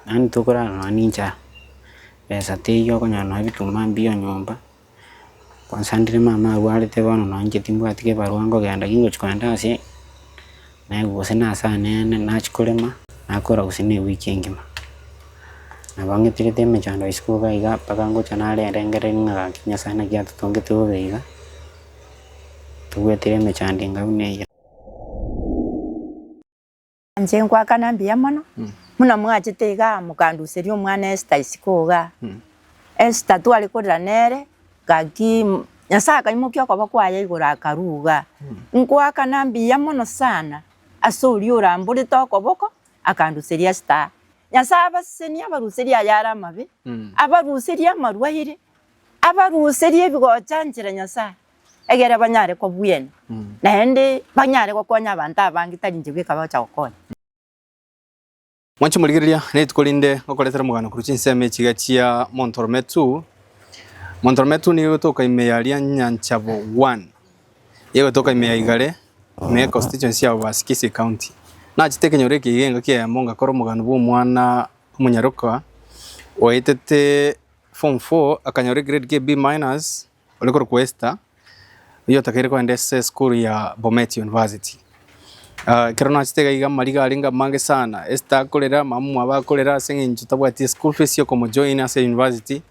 Naende ntokorara nonya ninchara, besa teiyo okonyora nonya ebituma mbiyo nyomba, kwansandire mama arwarete bono nonya inche timbwati kebarua nkogenda gingochia kogenda ase naye gose na ase anene nachia korema nakora gose ne ewiki engima. Nabo ng'eterete emechando ya isiko iga iga mpaka ngocha narengereria ng'a gaki Nyasae naki atotongete bobe iga, tobwatire emechando enga buna eyio. Inche nkoakana mbuya mono, buna mwachete iga mokanduseria omwana Esther isiko iga. Esther tware korera nere, gaki Nyasae akaimokia okoba kwaye igoro akarua iga. Nkoakana mbuya mono sana ase oria oramborete okoboko akanduseria Esther. Nyasae abasesenie abaruserie ayare amabe, abaruserie amarwaire, abaruserie ebigochanchera Nyasae. egere banyare kobuena, naende banyare gokonya abanto abange tari inche bweka bagocha gokonya. Mwanche morigereria, rituko rinde ngokoretera omogano korwa chinsemo echi iga chia Montorometu. Montorometu nigo egotoka ime ya Lyanyancha Bougouin, nigo egotoka ime ya Igare, ime ye constituency ya Uasin-Gisii County. Nachete ekenyoro eke iga engaki eyemo ngakora omogano bwa omwana omonyaroka oetete form four akanyora egrade k'B minus, ore korokwa Esther, oyio otakeire kogenda ase esukuru ya Bomet University. Ah, ekero nachete iga iga amariga arenge amange sana, Esther akorera, mamomwabo akorera ase eng'encho tabwati eschool fees ya okomojoin ase university.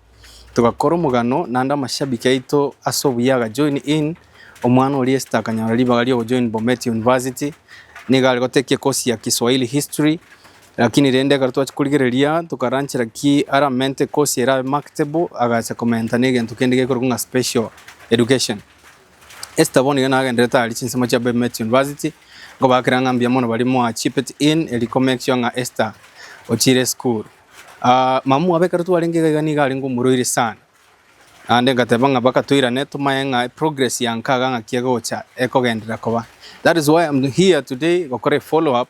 Togakora omogano naende amashabiki aito ase obuya agajoin in, omwana oria Esther akanyora ribaga riogojoin Bomet University, nigo aregotekia course ya Kiswahili History, Lakini rende ekero twachia korigereria, tokaranchera ki aramente kosi ere abe marketable, agacha komenta negento kende gekorokwa ng'a special education. Esther bono iga nagenderete aria chinsemo chia Bay Met University, nkobakera ng'a mbuya mono baria moa chipped in eria ko make sure ng'a Esther ochire esukuru. Ah, mamwabo ekero twarenge iga iga nigo arenge omoroiri sana, naende ngateba ng'a mpaka toirane tomanye ng'a progress ya nkaga ng'aki egocha ekogenderera koba. That is why I'm here today gokora efollow up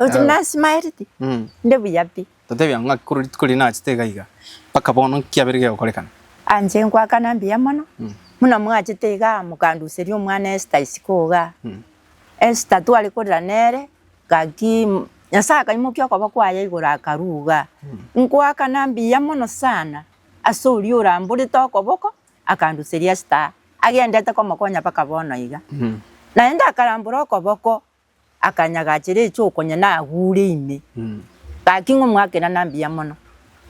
Oti Yao. nasimaereti? Mm. Nde buya pi. Totebia ng'a ng'aki korwa rituko riria naachete iga iga, mpaka bono nkiabere gegokorekana. Anche ngoakana mbuya mono. Mm. Buna mwachete iga mokanduseria omwana Esther isiko iga. Mm. Esther tware korera nere, gaki mm, Nyasae akaimokia okoba kwaye igoro akaruga. Nkoakana mbuya mono sana ase oria oramborete okoboko akanduseria Esther agendete komokonya mpaka bono iga. Mm. Naende akarambora okoboko akanyagachera echokonya nagure ime. Gaki ng'a omoakerano mbuya mono.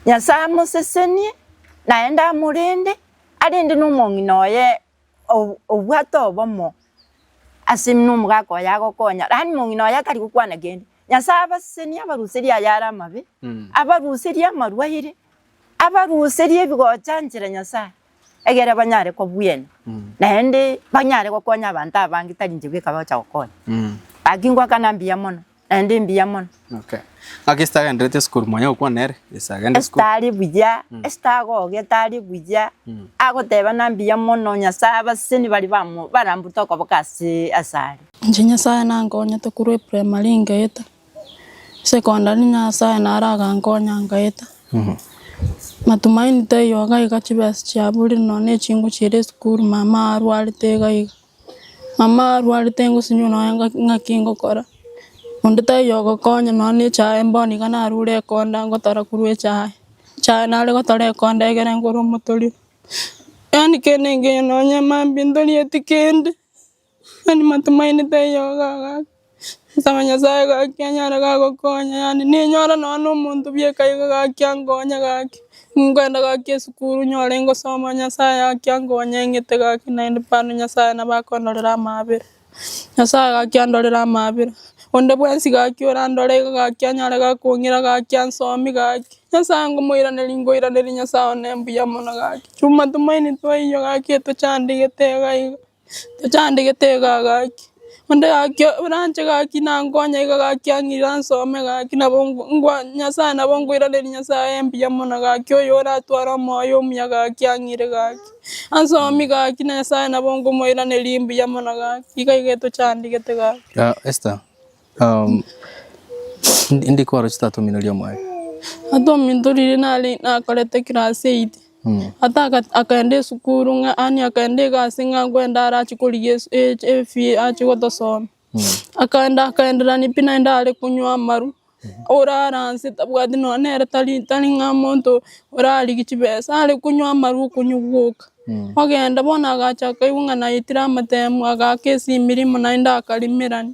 Nyasae amosesenie, naende amorende, arende nomong'ina oye obwate obomo ase nomogaka oye agokonya. Yaani mong'ina oye tari gokwana kende. Nyasae abasesenie abaruserie ayare amabe, abaruserie amarwaire, abaruserie ebigocha nchera Nyasae. egere banyare kobuena, naende banyare gokonya abanto abange tari inche bweka bagocha gokonya. Gaki ngoakana mbuya mono, naende mbuya mono. Okay. Ng'aki Esther agenderete esukuru mwanya gokwana ere? Yes, agende esukuru. Esther ari buya, Esther agogete ari buya, agoteba na mbuya mono, Nyasae abaseni baria bamo- barambute okoboko ase asare. Inche Nyasae nankonyete korwa eprimary ngeita. Secondary nyasaye naro agankonya nkaeta, matumaini taiyo iga iga chibesa chiaburire nonya na echingu chiria esukuru mama arwarete iga iga, mama arwarete ngosinywa nonya ng'a ng'aki ngokora, onde taiyo ogokonya nonya na echae bono iga narure ekonda ngotara korwa echae, echae nare gotora ekonda egere ngore omotori, yaani kende engiya nonya mambia ntorieti kende. Mani matumainete eyogo agaka, nsaba Nyasaye gaki anyare gagokonya, yaani ninyore nonya na omonto bieka iga gaki ankonye gaki, nkwenda gaki esukuru nyore ngosoma Nyasaye gaki ankonye ng'ete gaki naende bado Nyasaye nabo akondorera amaabera, Nyasaye gaki andorere amaabera, onde bwensi gaki orandore iga gaki anyare gakong'ira gaki ansomi gaki, Nyasaye ngomoiraneria nkoiraneria Nyasaye one mbuya mono gaki, chumatumaini twaiyoo gaki etochandigete iga iga. tochandegete iga gaki, onde gaki oranche gaki nankonye iga gaki ang'ira nsome gaki nabo ngo ngwa Nyasaye nabo nkoiraneria Nyasaye mbuya mono gaki oyo oratware omoyo omuya gaki ang'ire gaki, ansomi gaki na Nyasaye nabo nkomoiraneria mbuya mono gaki, iga iga etochandegete gaki. Esta. Ndikoro chitatomineria omoyo. Atomintorire nare nakorete class eight, ata akaenda esukuru ng'a yaani akaenda egasi ng'a kwenda arachie korigia esu efee achie gotosoma. Akaenda akaenderania pi naende are konywa amaru, orara nse tabwati nonya nere tari tari ng'a omonto orarigia chibesa, are konywa amaru okonywa gwoka. Ogenda bono agachaka aigwa ng'a naetire amatemu, agaaka ase emirima naende akarimerania.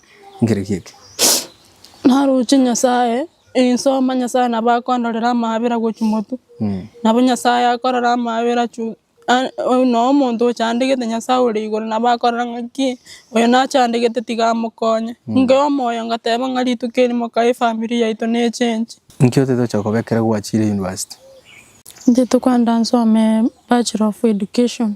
Naroche Nyasaye, inse omo Nyasaye nabo akondorera amabera gochia motwe. Nabo Nyasaye akorora amabera chio, na omonto ochandegete Nyasaye ore igoro nabo akorora ng'aki oyo nachandegete tiga amokonye. Inke omoyo ngateba ng'a rituko eri mokae efamiri yaito ne change. Inki otetocha kobekera gwachire university? Intwe tokwenda nsome Bachelor of Education.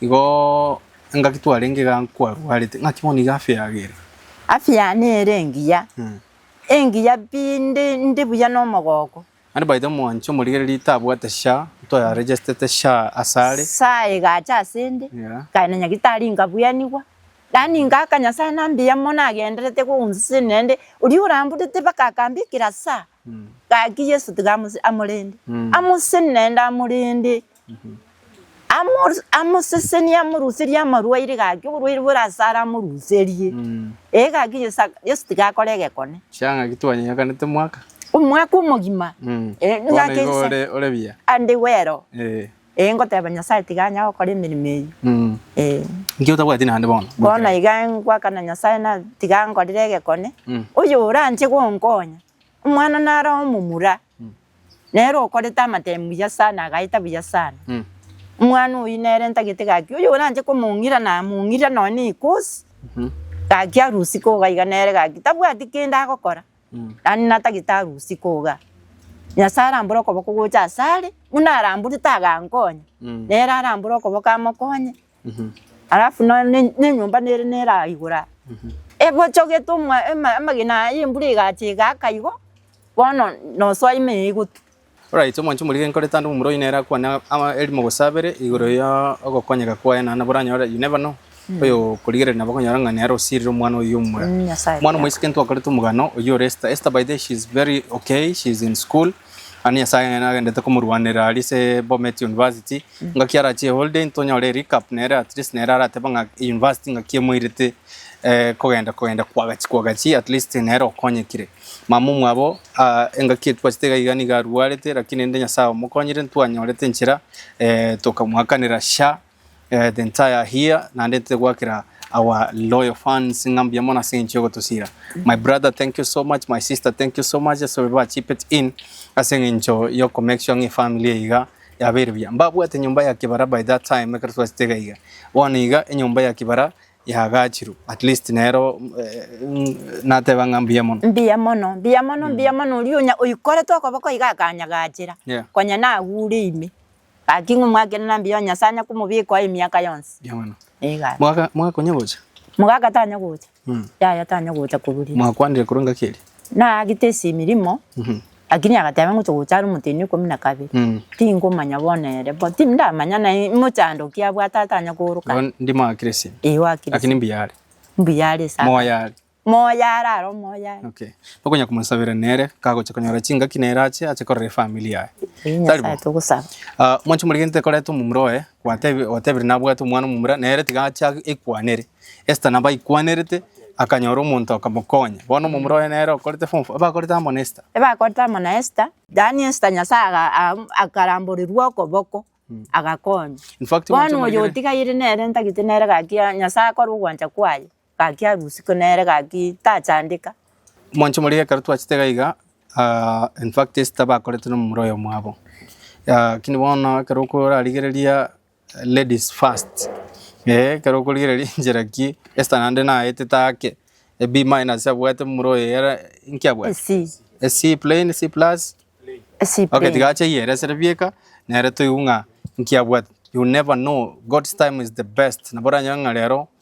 Igo engaki twarenge iga nkwarwarete, ng'aki bono iga afya yage ere? Afya yane ere engiya, engiya pi, ndi, ndi buya nomogooko. Naende by the mwanche omorigereria tabwate SHA, ntoya regestete SHA asare. SHA egacha asende, ekagenda nyagitari nkabuyanigwa, yaani ngaaka Nyasae na mbuya mono agenderete koonsiseni naende oria orambutete mpaka akambekera SHA. Gaki Yeso tiga amose- amorende, amoseseni naende amorende, amo- amoseseni amoruserie amarwaire gaki oborwaire bore asare amoruserie. Ee gaki Yeso aka- Yeso tiga akore egekone, Chia ng'aki twanyenyekanete mwaka. omwaka omogima. Eh, Bono ng'ake igo nse- ore ore buya. ande wero. Eh. Ee, ngoteba Nyasae tiga anya gokora emeremo eyio. Ee. Inki otabwati naende bono? Bono na iga ngoakana Nyasae na tiga ankorere egekone, oyoranche gonkonya. Omwana naro omomura, nere okorete amatemi buya sana, agaeta buya sana. Omwana oyio nere ntagete gaki oyoranche komong'ira namong'ira nonya nekosi, gaki arusikwo iga iga nere gaki tabwati kende agokora. Yaani natagete arusie koga. Nyasae arambore okoboko gocha asare, buna arambure tagankonya, nere arambore okoboko amokonye. Alafu no- ne- nenyomba nere nera igora. Ebochogete omwa- ema- amagena aya embura egacha egaka igo, bono nosoa ime igo tu. Oraite omwanche omorike nkore tande omomura oyio nere akwane ama erimo gose abere igoro ya ogokonyeka kwaye na nabwo oranyore you never know oyo okorigereria nabo okonyora ng'a nere osirire omwana oyio omomura Mm, Nyasaye omwana omoiseke otiake. ntwakorete omogano oyio ore Esther Esther by the way, she is very okay she is in school naende Nyasaye nere agendete komorwanera aria ase Bomet university ngaki arache holiday ntonyore recap nere at least nere arateba ng'a university ngaki emoirete eh, kogenda kogenda kwagachi kwagachi at least nere okonyekire Mama omwabo, aa, engaki etwachete iga iga nigo arwarete, lakini rende Nyasaye omokonyire, ntwanyorete enchera, eh, tokamoakanera sha, eh, the entire here, naende togoakera our loyal fans ng'a mbuya mono ase engencho yogotosiira. My brother, thank you so much, my sister, thank you so much, ase ababere ba chipped in, ase engencho ya oko make sure ng'a efamily eye iga yabeire buya. Mbabwate enyomba ya kibara by that time, ekero twachete iga iga. Bono iga enyomba ya kibara yagachiru at least nero nateba ng'a mbuya mono. Mbuya mono, mbuya mono, mbuya mono, oria onya oikorete okoboko iga akanyagachera, Yeah. konya nagure ime, gaki ng'a omwakere na mbuya oo Nyasae anyakomobikoa emiaka yonsi. Mbuya mono. Igaa. Mwaka mwaka konya gocha? Mogaka tanya gocha, Mm. yaya tanya gocha koburia. Mwakwanire korwa engaki eria? Naagete ase emirimo, Mhm. Lakini agateba, Ngocha gocha are omotenwa ikomi na kabere, tingomanya bono ere, bo tindamanya naye mochando okia abwate atanya kooroka Bono ere. ndimo akire ase ense, Eyo akire lakini ase mbuya are, mbuya are ase akare. moyo are. Moyo are, are omoyo are. Okay. Tokonya komosabera nere kagocha konyora chingaki nere ache ache korera efamily yaye. Eyi Tari Nyasaye bo. togosaba. Ah, mwanche omorege ntekoreta omomura oye, gwatebi- gwatebire nabwate omwana omomura, nere tiga ache ag- ekwanere. Esther nabo aikwanerete, akanyora omonto akamokonya. Bono omomura oye nere okorete form four, bakorete amo na Esther. Ebakorete amo na Esther, yaani Esther Nyasae aga- am- akaramborirwa okoboko, agakonya. In fact, Bono mwanche oyo omoregere. otigaire nere ntagete nere gaki a- Nyasae akore ogwancha kwaye, gaki arusike nere gaki tachandeka. Mwanche omorege ekero twachete iga iga, ah, in fact Esther bakorete nomomura oyo mwabo. Ah, lakini bono ekero okorarigereria Ladies first eh ekero okorigereria enchera ki Esther naende naetete ake e B minus abwate momura oye yara inki abwate? Esii. E C plain, C plus? Esii Okay tiga ache ayeresere bieka nere toigwe ng'a inki abwate. You never know, God's time is the best. Nabo oranyore ng'a rero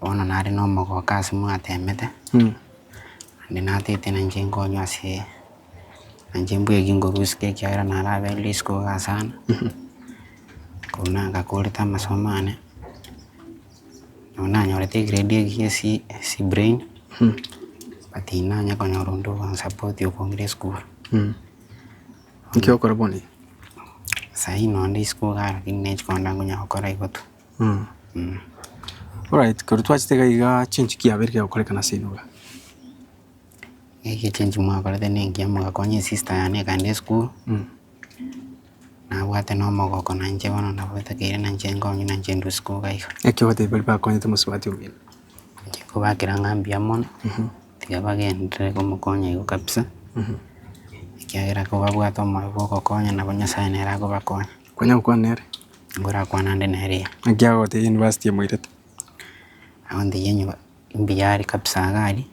bono nare na omogoka ase mwatemete, naende natete na inche nkonywa ase na inche mbweire eki nkorusike ekiagera narabeire rituko igaa sana, korende nabo nkakorete amasomo ane, nabo nanyorete egrade eria cia C brain, but tinanya konyora onde okonsapotia okombira esukuru. Sahii nonde isiko igaa lakini niche konde nkonyara gokora igo tu. Alright, korwa twachete iga igaa chinki kiabeire kiagokorekana ase enobe? Echinki mwakorete ne engiya mogakonya esista yane ekagenda esukuru, nabwate na omogoko na inche bono nabo etakeire na inche nkonywa na inche ndwe isiko iga iga. Ekio ogoteba baria bakonyete mosubati omino? Inche nkobakera ng'a mbuya mono, tiga bagenderere komokonya igo kabisa, ekiagera kobabwate omorero bwa ogokonya nabo Nyasaye nere akobakonya. Kwanya gokwana nere. Ngorakwana ande nere iga. Naki agotebi university emoirete. Agontebia nyuma mbuya are kabisa iga aria.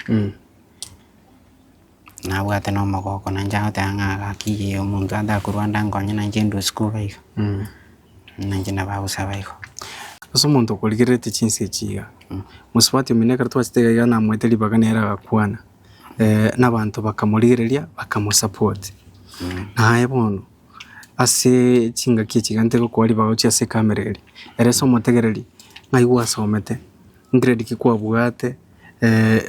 Nabwate na omogoko nainche agoteba ng'a gaki iga omonto atakorwa ande ankonye nainche ndue sikuga iga. Nainche nabo agosaba igo. Ase omonto okorigererete chinsa echi iga, mosubati omino ekero twachete iga iga namoete ribaga nere agakwana, nabanto bakamorigereria bakamosupport. Naye bono. ase chingaki echi egento egokora ribao chia ase ekamereri. Ere ase omotegereri ng'ai gwasomete, grade ki kwabwate,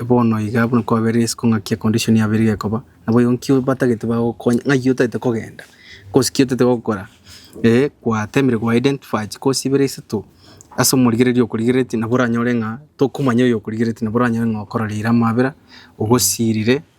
bono iga buna kwabeire isiko ng'aki econdition yabo ere gekoba. Nabo igo nki batagete bagokonye, ng'ai otagete kogenda, kosi ki otagete gokora. Ee gwatemire gwa identify chikosi ibere isato ase omorigereri okorigereretie nabo oranyore ng'a tokomanya oyo okorigereretie nabo oranyore ng'a okororeire amabera, ogosirire.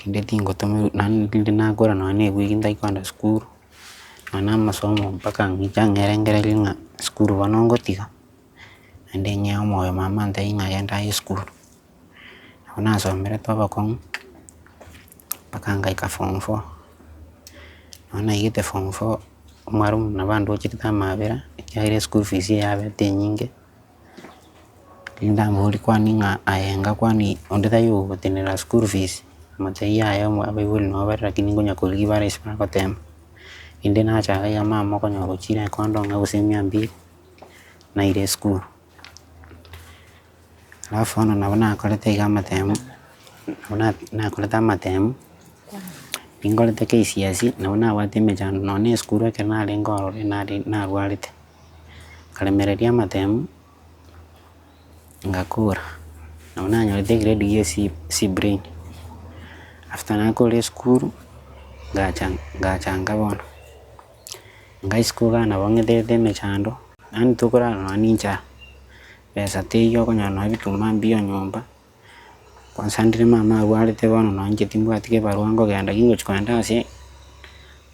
Rinde tingotoma naende rinde nakora nonya na ewiki ntari kogenda sukuru, nonya na amasomo mpaka inche ang'erengererie ng'a sukuru bono ngotiga, naende ng'ee omoyo mama ntari ng'a genda aye sukuru, nabo nasomerete obokong'u mpaka ngaika form four, nabo naigete form four, omwarimu nabo andochetie amabera ekiagera eschool fees yabete enyinge. Tindambori kwani ng'a aye enga kwani onde tari ogotenena school fees, amacheyi aye abaibori nabo bare lakini nkonya korigia bare ase bagoteba, inde nachaka iga mama okonyora gochire ekondo ng'a gose mia mbili, naira esukuru. Alafu bono nabo nakorete iga amatemo, nabo na nakorete amatemo, ninkorete kcse nabo nabwate emechando, nonya na esukuru ekero narenge ororo nare narwarete. Nkaremereria amatemu, ngakora, nabo nanyorete egrade gie C C brain. After nakorire esukuru, ngacha ngachanga bono, ngaisiko iga nabo ng'etete emechando, yaani tokorara nonya ninchara, besa teiyo okonyora nonya ebituma mbio nyomba. Gwasandire mama agwarete bono nonya inche timbwati kebarua nkogenda ki ngochia kogenda ase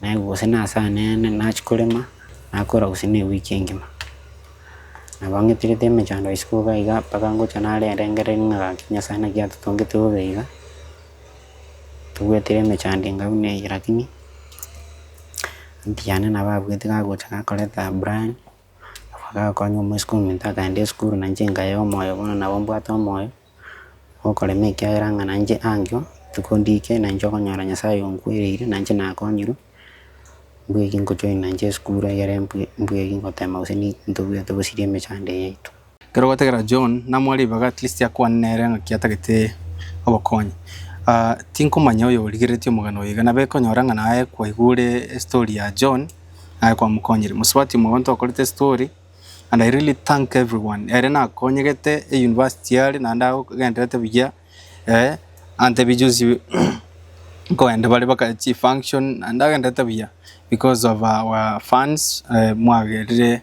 naye gose ase anene nachia korema nakora gose na ewiki engima. Nabo ang'eterete emechando isiko iga iga mpaka ngocha narengereria ng'a gaki Nyasae naki atotongete bobe iga, tobwate emechando enga buna eye lakini aunty yane nabo abwate gagocha gakoreta Brian. Bagakonya omosike ominto akaenda esukuru na inche nkayea omoyo bono nabo mbwate omoyo okorema ekiagera ng'a na inche angio rituko ndike na inche okonyora Nyasaye onkwereire na inche nakonyirwe, mbwenu eki nkojoin na inche esukuru egere mbwe mbwegi gotema gose ni ntobwate gosiria emechando eye yaito. Ekero gwategerera John, namoa ribaga at least akwane nere ng'aki atagete obokonyi. Ah, tinkomanya oyo origereretie omogano oyo iga, nabo ekonyora ng'a naye kwaigure estory ya John, naye kwamokonyire. Mosubati omogonto okorete estory, and I really thank everyone, ere nakonyegete e university are, naende agogenderete buya, eh, antebia juzi nkoenda bare baka chifunction, naende agenderete buya because of our funds, eh, mwagerire.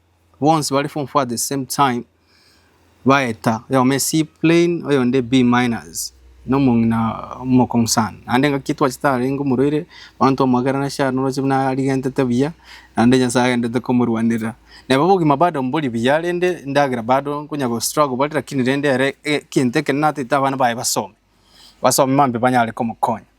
bonsi bare form four at the same time baeta oyomo C plain oyonde B minors na omong'ina omokong'u sana naende ngaki twachete arenge omorwaire abanto bamogera nashe aria oroche buna arigentete buya naende Nyasaye agendete komorwanerera. Neba obogima bado mbori buya rende endagera bado nkonya go struggle bare lakini rende ere egento ekenene natete abana baye basome, basome mambia banyare komokonya.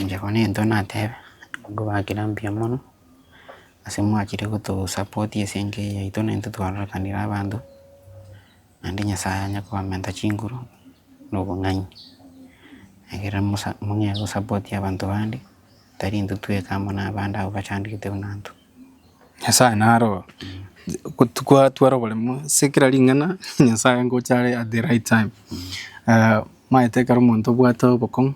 Inche bono egento natebe, abwo bagakira mbuya mono, ase mwachire gotosupport ase enka eye yaito naintwe twarorekanirie abanto, naende nyasaye anye kobamenta chinguru na obong'aini, ekero mosa mong'ee gosapport abanto bande, tari intwe tweka amo nabande abwo bachandegete buna intwe. Nyasaye naro twatwara oboremu ase kera ring'ana Nyasaye ngocha are at the right time. Omanyete ekero omonto obwate obokong'u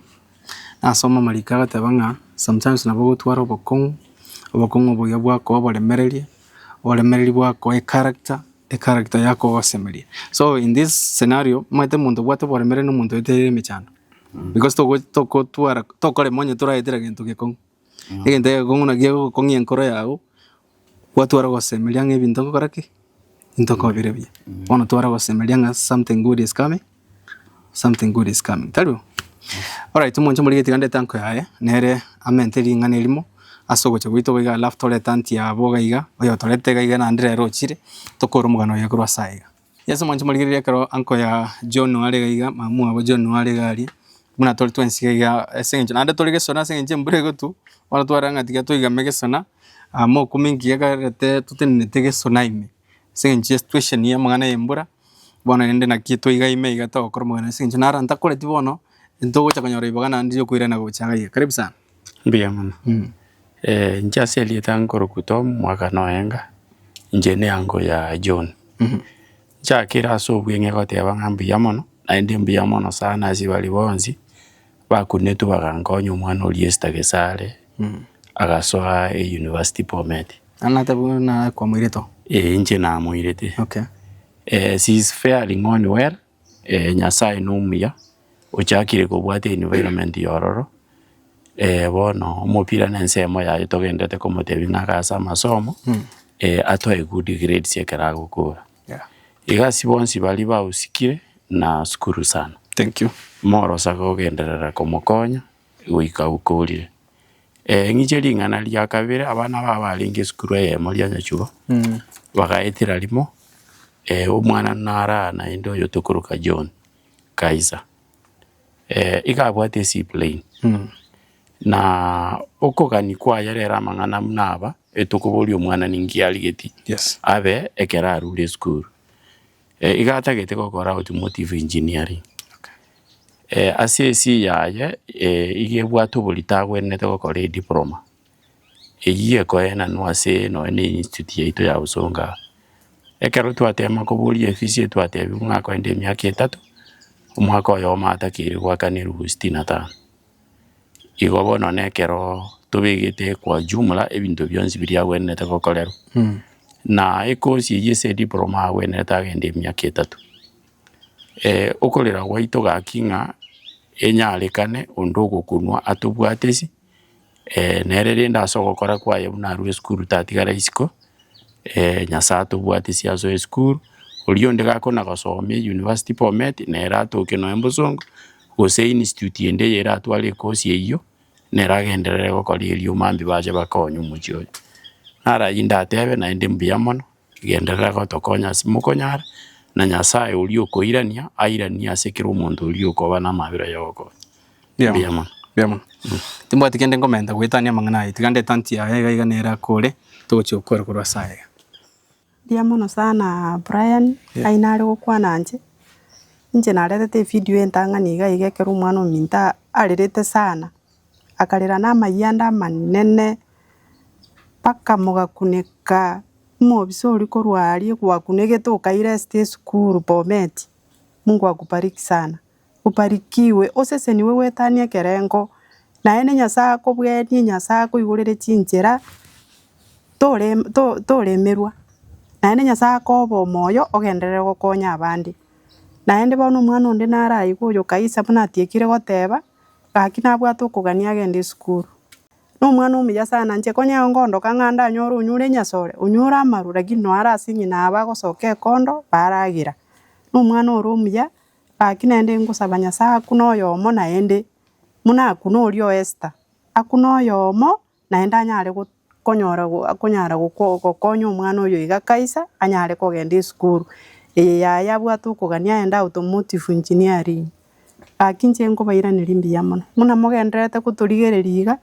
nasoma amariko agateba ng'a sometimes nabo ogotwara obokong'u, obokong'u obo iga bwakoa oboremereria, oboremereria bwakoa echaracter, echaracter yakoa ogosemeria. So in this scenario omanyete omonto obwate oboremereria na omonto oeteire emechando because togo togotwara tokorema onye toraetera gento gekong'u. Egento egekong'u naki egokong'ia enkoro yago, gwatwara gosemeria ng'a ebinto nkogora ki? Ebinto nkobire buya. Bono twara gosemeria ng'a something good is coming, something good is coming, tari oo? Alright, omonto omorige tiga ndete anko yaye, nere amente ring'ana erimo ase ogocha gwaito iga alafu torete anti yabo iga iga, oyotorete iga iga naende rero ochire, tokore omogano oye korwa ase aiga. Yeso mwanche morigereria ekero uncle ya John are iga iga, mamu wabo John are iga aria, buna tore twensi iga iga ase eng'encho naende tore gesona ase eng'encho embura egotwa, bono tware ng'a tiga toigame gesona, aa mokumi engiya ekarete totenenete gesona ime, ase eng'encho ya situation ya amang'ana ya embura, bono rende naki toiga ime iga togokora omoganda ase eng'encho naro ntakoreti bono, ntogocha konyora ribaga naende riokoirana gocha iga iga. Karibu sana. Mbuya mono, inche ase erieta nkorokwa Tom omwakano oenga, inche neango ya John, nchakire ase obweng'e goteba ng'a mbuya mono, naende mbuya mono sana ase baria bonsi bakunetwe bagankonya omwana oria Esther Gesare agasoa eyunivasiti Bomet. Naende nateba buna kwamoirete oo. Ee inche namoirete. Okay. She is faring on well. Ee, Nyasae nomuya, ochakire kobwata environment ya ororo, bono omopira na ensemo yaye togenderete komotebia ng'a ake ase amasomo, atoe good grades ekero agokora. Yeah. Iga ase bonsi baria bagosikire, nasukuru sana. Thank you. Morosa gogenderera komokonya, goika abukorire. Ee ng'iche ring'ana ria kabere, abana abwo abarenge esukuru eyemo ria nyachuo, bagaetera rimo omwana narara naende oyo tokoroka John Kaisa. iga abwate eseaplane, na okogania kwaye rero amang'ana buna aba, etokoboria omwana ninki arigetie abe ekero arure esukuru. Eh iga atagete gokora automotive engineering, ase esi yaye iga ebwate obori tagwenerete gokora ediploma, eyio ekoenanwa ase nonye ne institute yaito ya usonga, ekero twatema koboria efisi eye twatebiwa ng'a akorenta emiaka etato, omwaka oyomo atakeire goakana elufu sitini na tano. Igo bono nekero tobegete kwa jumla ebinto bionsi biria agwenerete gokorerwa, na ekosi eyio ase ediploma agwenerete agende emiaka etato. okorera gwaito gaki ng'a enyarekane onde ogokunwa atobwatesi nere rende ase ogokora kwaye buna arue esukuru tatigara isiko Nyasaye atobwatesi ase esukuru, oria onde gakona gosoma eyunivasiti Bomet nere atoke nonya bosongo, gose institute ende eye eratware ekosi eyio, nere agenderere gokora erio mambia bache bakonye omochie oye. Naro ayio ndatebe naende mbuya mono, genderera gotokonya ase mokonyara, na Nyasaye oria okoirania, airanie ase kera omonto oria okoba namabera ya ogokonya. Mbuya Mbuya mono. mbuya mono. Timbwati kende nkomenta goetania amang'ana aye, tiga ndetantie aya iga iga nere akore, togochia gokora korwa ase aya iga. Mbuya mono sana Brian, ng'ai nare gokwana inche, inche naretete evideo entang'ani iga iga ekero omwana ominto a- arerete sana, akarera na amayia ande amanene, mpaka mogakuneka, omobisa oria korwa aria kwakunegete okairesta esukuru Bomet, Mungu akubariki sana. Obarikigwe, osesenigwe gwetania ekerengo, naende Nyasae akobwenie, Nyasae akoigorere chinchera, tore to- toremerwa, naende Nyasae akobe omoyo ogenderere gokonya abande. Naende bono omwana onde nare ayigo oyo Kaisa buna atiekire goteba, gaki nabwate okogania agende esukuru. Na omwana omuya sana inche konya igo ngondoka ng'a ndanyore onyure enyasore, onyure amaru, rakini noe ase eng'ina aba agosoka ekondo, baragera. Na omwana ore omuya. Gaki naende ngosaba Nyasae akune oyomo naende, buna akune oria o Esther, akune oyomo naende anyare konyora akonyara gokonya omwana oyo iga kaisa anyare kogenda esukuru eye yaye abwate okogania aende automotive engineering. Gaki inche nkobairaneria mbuya mono, buna mogendererete gotorigereria iga,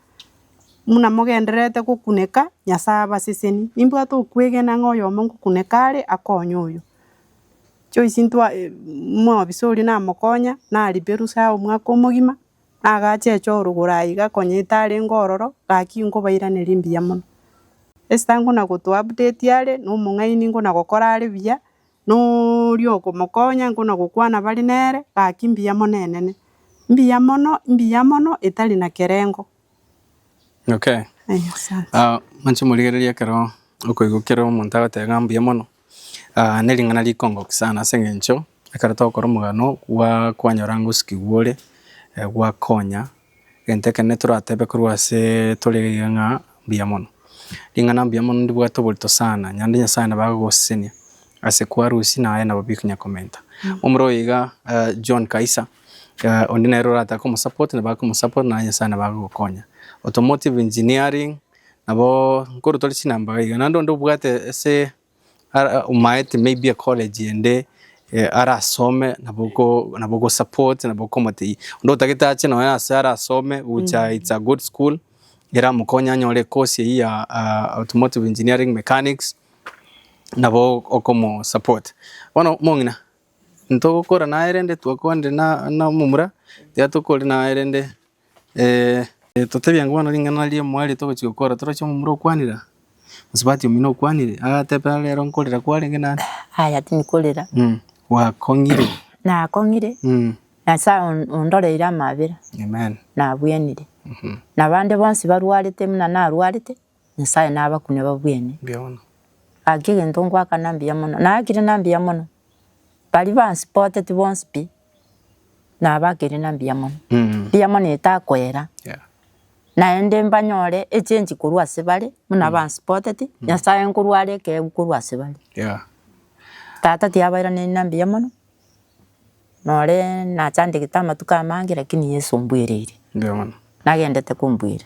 buna mogendererete gokuneka, Nyasae abasesenie. Nimbwate okwegena ng'a oyomo ngokuneka are akonye oyo. Joyce ntwa omobisa oria namokonya, naribe rusa omwaka omogima, nagache echo orogoro aiga konya etarenge ororo, gaki inkobairaneria mbuya mono. Esther nkona go to update are, na omong'aini nkona gokora are buya, na oria okomokonya nkona gokwana bare nere, gaki mbuya mono enene. Mbuya mono, mbuya mono etari na kerengo. Okay. Asante. Ah, manche morigererie ekero okoigwa kero omonto agoteba ng'a mbuya mono, Aa nering'ana rikongokia sana ase eng'encho ekero togokora omogano gwaa kwanyora ngosikigwa ore gwakonya egento ekero netoratebe korwa aseee tore iga ng'a mbuya mono. Ring'ana mbuya mono ndibwate oborito sana, nonya onde nyasae nabo agogosesenia ase kwarusia naye nabo bigo okonya komenta. Omoro oyo iga John Kaisa onde nere orataka omosupport nabo akomosupport naye nyasae nabo agogokonya. Automotive engineering Nabo nkorotore chinamba iga, naende onde obwate ase omaete may be ecollege ende arasome nabo ogosupport nabo okomotebia. Onde otagete ache nonye ase arasome gocha it's a good school eramokonye anyore ecourse eyio ya automotive engineering mechanics nabo okomosupport. Bono omong'ina intogokora naye rende twakwana rende na omomura tiga tokori naye rende. Totebie ng'a bono ring'ana riria riamoeretie ogochia gokora toroche omomura okwanire aa? Gose bati omino okwanire? Agateba aa rero nkorera kwarenge naende? Aya tinkorera. Gwakong'ire? Nakong'ire. Nyasae ondoreire amabera. Amen. Nabwenire. Na abande bonsi barwarete buna narwarete, Nyasae nabakune babwene. Mbuya mono. Gaki egento ngoakana mbuya mono. Naakire na mbuya mono. Baria bansupoteti bonsi pi. nabakire na mbuya mono, mbuya mono etakoera, naende mbanyore echange korwa ase bare buna bansuppoteti, Nyasaye nkorwa are ekeegu korwa ase bare. Tata tiabairaneri na mbuya mono, nore nachandegete amatuko amange lakini Yeso ombuereire, nagendete kombuerera.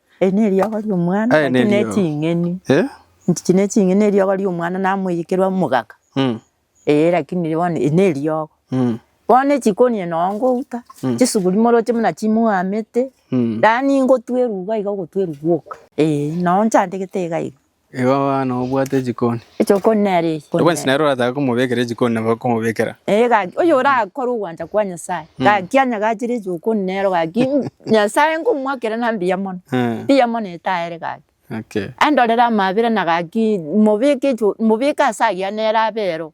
Eri neriogo ri'omwana Aye naki neriogo. neching'eni Eh? nchichi neching'eni neriogo ri'omwana namoyekerwa omogaka Mm. ee lakini bono eri neriogo Mm. bono echikoni noo ngouta chisuguri moroche buna chimwamete Mm. yaani ngotwa eruba iga ogotwa eruba oka ee noo nchandegete iga iga Igo abana obwate ejikoni. Ejokoni nere eye. Kore Obwensi nere oratake komobekera ejikoni nabo akomobekera. Ee, gaki, oyo orakore ogwancha kwa Nyasaye, gaki anyagachere ejokoni nero gaki, mm, Nyasaye nkomoakera na mbuya mono, Eh, mbuya mono etaere gaki. okay. Andorere amabera na gaki, mobeke ejo, mobeke ase agiya nere abe ero,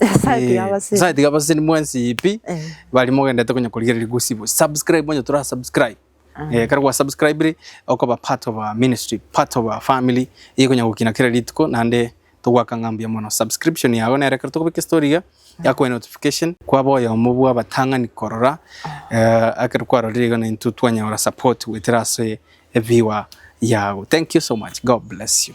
Nyasaye tiga abaseri. Nyasaye tiga abaseri mwensi pi Eh, bari mogendete konya korigereria gosibo subscribe onye tora subscribe ah. eh, kare gwa subscribe ri okoba part of our ministry part of our family iye konya gokina kera rituko nande togwaka ng'a mbuya mono subscription yago nere kero tokobeka estory iga yakoe notification kwaba oyomo bwa abatang'ani korora eh, akero kwarorire iga naintwe twanyora support goetera ase ebiwa yago thank you so much god bless you